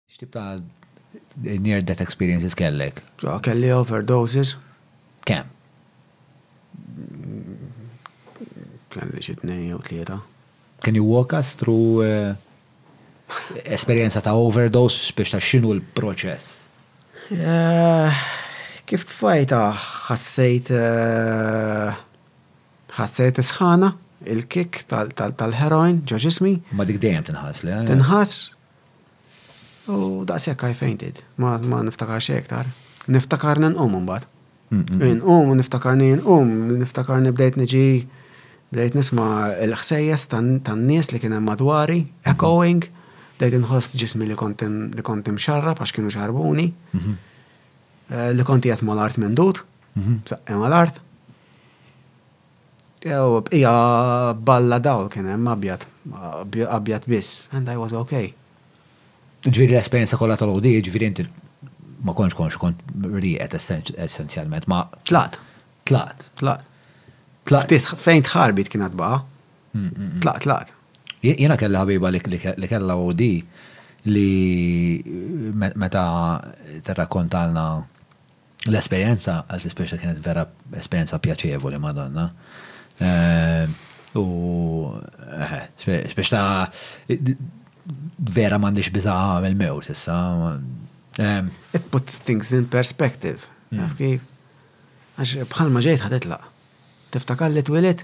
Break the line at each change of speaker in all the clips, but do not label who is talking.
X'tip ta' near death experiences kellek? Kelli overdoses. Kemm? Kelli xi tnejn jew tlieta. Can you walk us through esperjenza ta' overdose biex tgħid x'inhu l-proċess? Kif tfajtha ħassejt ħassejt is-sħana, il-kick tal-heroin ġo ġismi. Ma dik dejjem tinħass, le? Tinħass, U daqshekk I fainted. Ma, ma niftakarx xejn iktar. Niftakarni nqum imbagħad. Inqum u niftakarni inqum, niftakarni bdejt niġi bdejt nisma' l-ħsejjes tan-nies li kien hemm madwari, echoing, bdejt inħoss ġismi li kont li kont imxarrab għax kienu xarrbuni, li kont qiegħed mal-art mendud, b'saqqi mal-art. Jew bqija balla dawl kien hemm abjad. Abjad biss. And I was ok. Jiġifieri l-esperjenza kollha tal-għoti, jiġifieri inti ma kontx konxju, kont rieqed essenzjalment, ma. Tlaqt. Tlaqt. Tlaqt. Tlaqt. Ftit fejn tħarbit kien għad baqa'. Tlaqt, tlaqt. Jiena kelli ħabiba li kellha OD li meta tirrakkontalna L-esperjenza għal Tisperxa kienet vera esperjenza pjaċevoli madonna. U speċta vera m'għandix biża' għamel mewt issa. It puts things in perspective. Naf kif? Għax bħalma ġejt ħad itlaq. Tiftakar li twilet?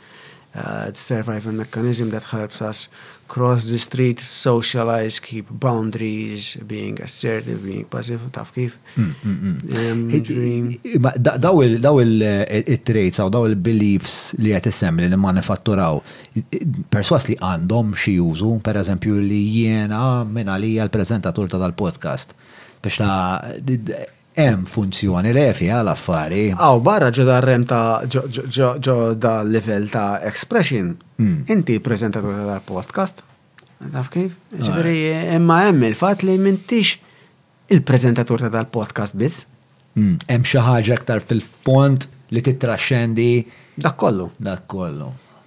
the survival mechanism that helps us cross the street, socialize, keep boundaries, being assertive, being passive, taf kif. Daw il-traits, eh, daw il-beliefs li għet jessem li manifatturaw, perswas li għandhom xie użu, per eżempju li jiena minna li għal-prezentatur ta' dal-podcast. Biex ta' Hemm funzjoni li fiha l-affari. Hawn barra ġo dar-rem ta' ġo dal-livell ta' expression, inti preżentatur ta' dal-podcast. Taf kif? Jiġifieri imma hemm il-fatt li m'intix il-preżentatur ta' dal-podcast biss. Hemm xi ħaġa aktar fil-fond li tittraxxendi. Dak kollu. Dak kollu.